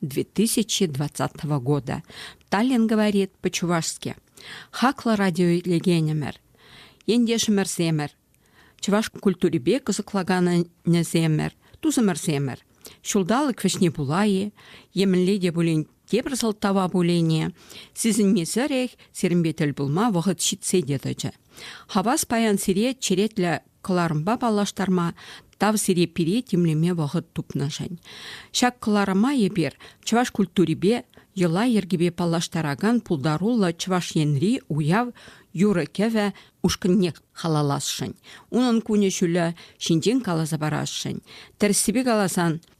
2020 года. Таллин говорит по-чувашски. Хаклӑ радиоилекенӗмӗр, ентешӗмӗрсемӗр, чӑваш культурипе кӑсӑклаканӗсемӗр, тусӑмӑрсемӗр. Ҫулталӑк вӗҫне пула-и, емӗнле те пулин тепӗр сӑлтава пулине сисӗнмесӗрех сирӗнпе тӗл пулма вӑхӑт ҫитсе те тӑчӗ. Хавас паян сире черетлӗ кӑларӑмпа паллаштарма, Тав сире пире тимлеме вӑхӑт тупнӑшӗн. Ҫак кӑларӑма эпир чӑваш культурипе, йӑла-йӗркепе паллаштаракан пултаруллӑ Чӑваш Енри уяв юрӑ-кӗвӗ ушкӑнне халалласшӑн, унӑн кунӗ-ҫулӗ ҫинчен каласа парасшӑн. Тӗрӗссипе каласан,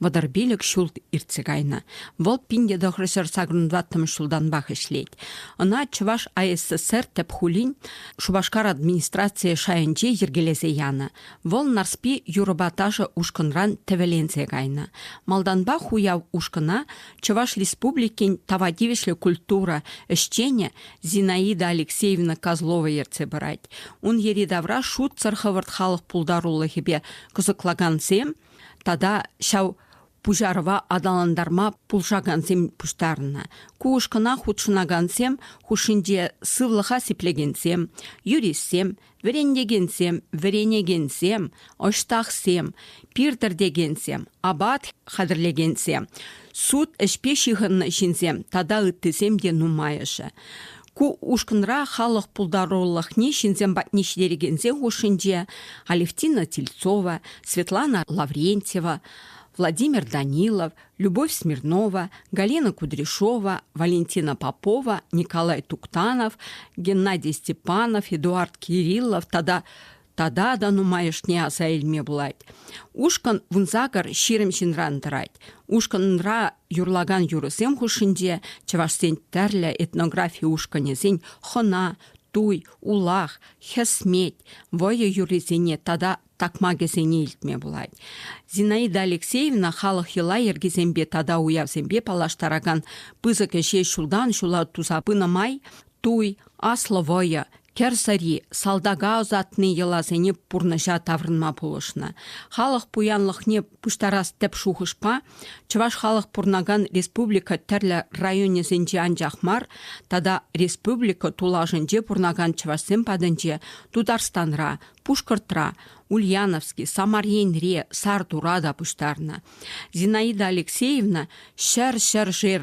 Вӑтӑр пилӗк ҫул иртсе кайнӑ. Вӑл пин тӑхрӑшер сакӑрӑнваттӑмӗш ҫултанпах ӗҫлет. Ӑна Чӑваш АССР тӗп хулин Шупашкар администрацийӗ шайӗнче йӗркелесе янӑ. Вӑл Нарспи юрӑпа ташӑ ушкӑнран тӗвӗленсе кайнӑ. Малтанпах уяв ушкӑна Чӑваш Республикин тава тивӗҫлӗ культура ӗҫченӗ Зинаида Алексеевна Козлова ертсе пырать. Ун йӗри-тавра шутсӑр хӑвӑрт халӑх пултарулӑхӗпе кӑсӑклакансем тата ҫав пуҫарӑва аталантарма пулӑшакансем пуҫтарӑннӑ. Ку ушкӑна хутшӑнакансем хушшинче сывлӑха сиплекенсем, юристсем, вӗрентекенсем, вӗренекенсем, ӑҫтахсем, пир тӗртекенсем, апат хатӗрлекенсем, суд ӗҫпе ҫыхӑннӑ ҫынсем тата ыттисем те нумайӑшӗ. Ку ушкӑнра халӑх пултарулӑхне ҫынсем патне ҫитерекенсен хушшинче Алевтина Тельцова, Светлана Лаврентьева, Владимир Данилов, Любовь Смирнова, Галина Кудряшова, Валентина Попова, Николай Туктанов, Геннадий Степанов, Эдуард Кириллов тата тата та нумайӑшне аса илме пулать. Ушкӑн вунсакӑр ҫирӗм ҫынран тӑрать. Ушкӑнра юрлакан юрӑсем хушшинче чӑвашсен тӗрлӗ этнографи ушкӑнӗсен хӑна, туй, улах, хӗсмет, вӑйӑ юррисене тата такмакӗсене илтме пулать. Зинаида Алексеевна халӑх йӑла-йӗркисемпе тата уявсемпе паллаштаракан пысӑк ӗҫе ҫултан ҫула туса пынӑ май Туй, аслӑ вӑйӑ, кӗр сӑри, салтака ӑсатни йӑласене пурнӑҫа таврӑнма пулӑшнӑ. Халӑх пуянлӑхне пуҫтарас тӗп шухӑшпа чӑваш халӑх пурӑнакан республика тӗрлӗ районӗсенче анчах мар тата республика тулашӗнче пурӑнакан чӑвашсем патӗнче Тутарстанра, Пушкӑртра, Ульяновски, Самар Енре, Сартура та пуҫтарнӑ. Зинаида Алексеевна ҫӗр-ҫӗршер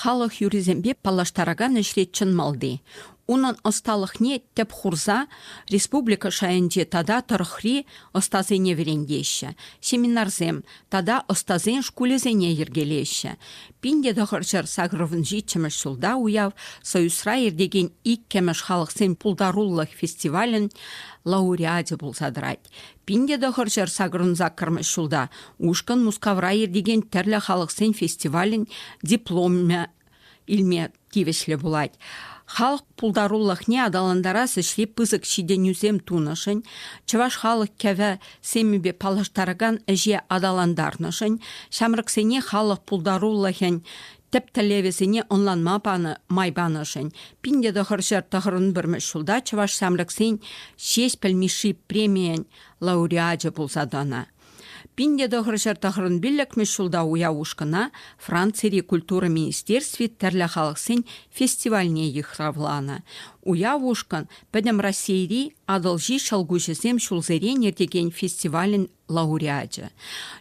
халӑх юррисемпе паллаштаракан ӗҫре чӑн малти. Унӑн ӑсталӑхне тӗп хурса республика шайӗнче тата тӑрӑхри ӑстасене вӗрентеҫҫӗ, семинарсем тата ӑстасен шкулӗсене йӗркелеҫҫӗ. Пин те тӑхӑр ҫӗр сакӑрӑмӗн ҫиччӗмӗш ҫулта уяв Союзра иртекен иккӗмӗш халӑхсен пултарулӑх фестивалӗн лауреачӗ пулса тӑрать. Пин те тӑхӑр ҫӗр сакӑрӑн-саккӑрмӗш ҫулта ушкӑн Мускавра иртекен тӗрлӗ халӑхсен фестивалӗн дипломӗ илме тивӗҫлӗ пулать. Халӑх пултарулӑхне аталантарас ӗҫре пысӑк ҫитӗнӳсем тунӑшӑн, чӑваш халӑх кӗвӗ-семӗпе паллаштаракан ӗҫе аталантарнӑшӑн, ҫамрӑксене халӑх пултарулӑхӗн тӗп тӗллевӗсене ӑнланма панӑ май панӑшӗн пин те тӑхӑр ҫӗр тӑхӑрӑн пӗрмӗш ҫулта чӑваш ҫамрӑксен Ҫеҫпӗл Мишши премийӗн лауреачӗ пулса тӑнӑ. Пин те тӑхӑр ҫӗр тӑхӑрӑн пиллӗкмӗш ҫулта уяв ушкӑна Францири культура министерстви тӗрлӗ халӑхсен фестивальне йыхравланӑ. Уяв ушкӑн Пӗтӗм Раҫҫейри Атӑлҫи ҫӑлкуҫӗсем ҫулсерен иртекен фестивалӗн лауреачӗ,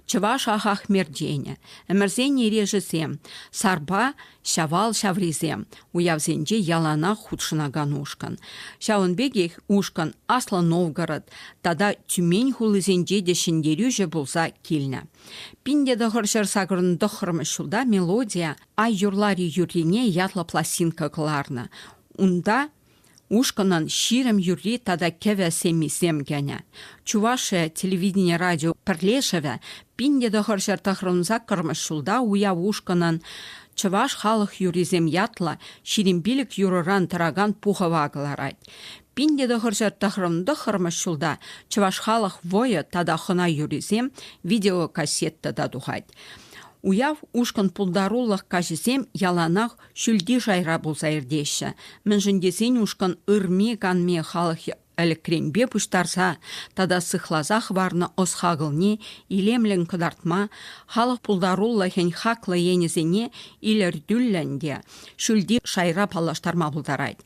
Чӑваш Ахахмерденӗ, ӗмӗрсен эрешӗсем, Сарпа Ҫавал ҫаврисем уявсенче яланах хутшӑнакан ушкӑн. Ҫавӑн пекех ушкӑн Аслӑ Новгород тата Тюмень хулисенче те ҫӗнтерӳҫӗ пулса килнӗ. Пин те тӑхӑр ҫӗр сакӑрӑн тӑххӑрмӗш ҫулта мелодия Ай юрлар-и юррине ятлӑ пластинка кӑларнӑ. Унта Ушкӑнӑн ҫирӗм юрри тата кӗвӗ семмисем кӗнӗ. Чувашия телевидени радио пӗрлешӗвӗ пин те тӑхӑрҫӗр тӑхрӑн саккӑрмӗш ҫулта уяв ушкӑнӑн Чӑваш халӑх юррисем ятлӑ ҫирӗм пилӗк юрӑран тӑракан пухӑва кӑларать. Пин те тӑхӑрҫӗр тӑхрӑн тӑххӑрмӗш ҫулта Чӑваш халӑх вӑйӑ тата хӑна юррисем видеокассета та тухать. Уяв ушкӑн пултарулӑх каҫӗсем яланах ҫӳлти шайра пулса иртеҫҫӗ, мӗншӗн тесен ушкӑн ырми-канми халӑх ӗлӗкренпе пуҫтарса тата сыхласа хӑварнӑ ӑс-хакӑлне илемлӗн кӑтартма, халӑх пултарулӑхӗн хаклӑ енӗсене илӗртӳллӗн те ҫӳлти шайра паллаштарма пултарать.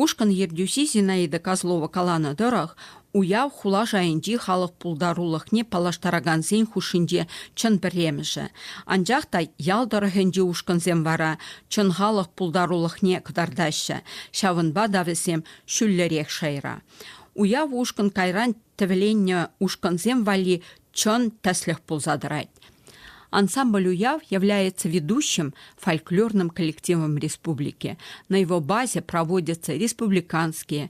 Ушкӑн ертӳҫи Зинаида Козлова каланӑ тӑрӑх, Уяв хула шайӗнчи халӑх пултарулӑхне паллаштаракансен хушшинче чӑн пӗрремӗшӗ. Анчах та ял тӑрӑхӗнчи ушкӑнсем вара чӑн халӑх пултарулӑхне кӑтартаҫҫӗ, ҫавӑнпа та вӗсем ҫӳллӗрех шайра. Уяв ушкӑн кайран тӗвӗленнӗ ушкӑнсем валли чӑн тӗслӗх пулса тӑрать. Ансамбль уяв является ведущим фольклорным коллективом республики. На его базе проводятся республиканские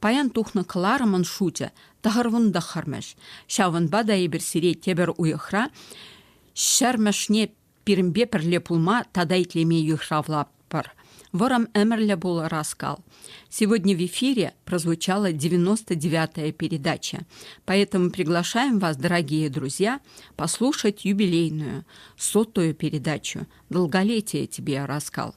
Паян тухнӑ кӑларӑмӑн шучӗ тӑхӑр-вунтӑх хӑрмӗш. Ҫавӑнпа та эпир сире тепӗр уйӑхра ҫӗрмӗшне пирӗнпе пӗрле пулма тата итлеме йыхравлатпӑр. Вӑрӑм ӗмӗрлӗ пулӑ Раскал. Сегодня в эфире прозвучала 99-я передача, поэтому приглашаем вас, дорогие друзья, послушать юбилейную, сотую передачу «Долголетие тебе, Раскал».